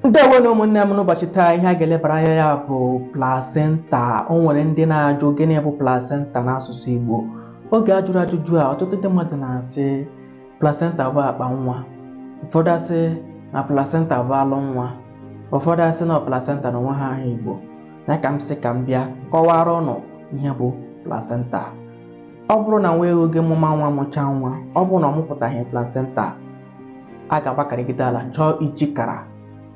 ndewo nụ ụmụnne m n'ụbọchị taa ihe a ga-elebara anya ya bụ plasenta o nwere ndị na-ajụ gịnị bụ plasenta n'asụsụ Igbo oge a jụrụ ajụjụ a ọtụtụ ndị mmadụ na-asị plasenta bụ akpa nwa ụfọdụ asị na plasenta bụ alụ nwa ụfọdụ asị na plasenta na onweghị aha Igbo ya ka m sị ka m bịa kọwara ụnụ ihe bụ plasenta ọ bụrụ na nwa eghu gị mụma nwa mụchaa nwa ọ bụrụ na ọ mụpụtaghị plasenta a ga-agbakarịgide ala chọọ ijikara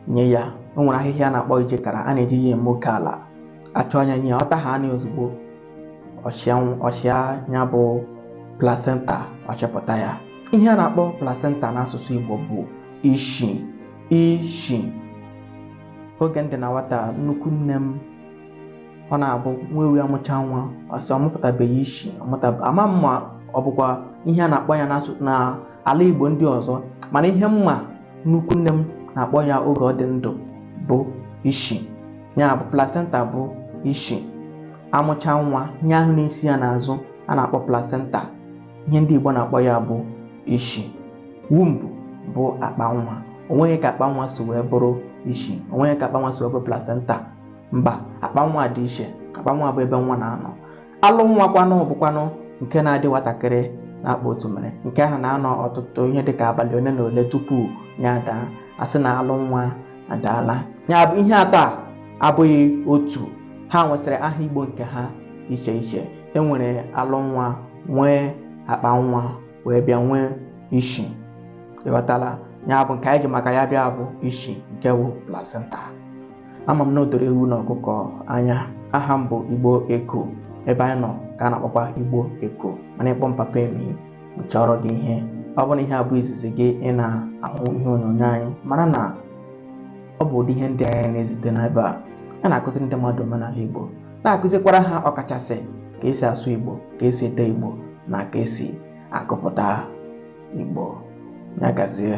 nye ya o nwere ahịhịa a na-akpọ ijikara a na-eji ya eme oke ala achọọ ya nye ya ọ taha ya ozugbo ọ chịa nw- ọ chịa ya bụ placenta ọ chịpụta ya ihe a na-akpọ placenta n'asụsụ Igbo bụ ishi ishi oge m dị na nwata nnukwu nne m ọ na-abụ nwa ewu amụcha nwa ọ sị ọ mụpụtabeghị ishi ọ mụta- ama m ma ọ bụkwa ihe a na-akpọ ya n'asụ- na ala Igbo ndị ọzọ mana ihe m ma nnukwu nne m na-akpọ ya oge ọ dị ndụ bụ ishi ya bụ placenta bụ ishi amụcha nwa ihe ahụ na-esi ya n'azụ a na-akpọ placenta ihe ndị Igbo na-akpọ ya bụ ishi womb bụ akpa nwa onweghị ka akpa nwa si wee bụrụ ishi onweghị ka akpa nwa si wee bụrụ placenta mba akpa nwa dị iche akpa nwa bụ ebe nwa na-anọ alụ nwa kwanụ bụkwanụ nke na-adị nwatakịrị n'akpa otumere nke ahụ na-anọ ọtụtụ ihe dịka abalị ole na ole tupu ya adaa asị na alụ nwa adaala ya bụ ihe atọ a abụghị otu ha nwesịrị aha igbo nke ha iche iche enwere alụ nwa nwee akpa nwa wee bịa nwee ishi ị ghọtala ya bụ nke anyị ji maka ya bịa bụ ishi nke bụ placenta ama m na o doro ewu na ọkụkọ anya aha m bụ igbo eko ebe anyị nọ ka a na-akpọkwa igbo eko mana ị kpọọ m papa i mejọrọghị ihe ọ bụrụ na ihe a bụ izizi gị ị na-ahụ ihe onyonyo anyị mara na ọ bụ ụdị ihe ndị anyị na-ezite n'ebe a a na-akụziri ndị mmadụ omenala igbo na-akụzikwara ha ọkachasị ka esi asụ igbo ka esi ede igbo na ka esi agụpụta igbo ya gazie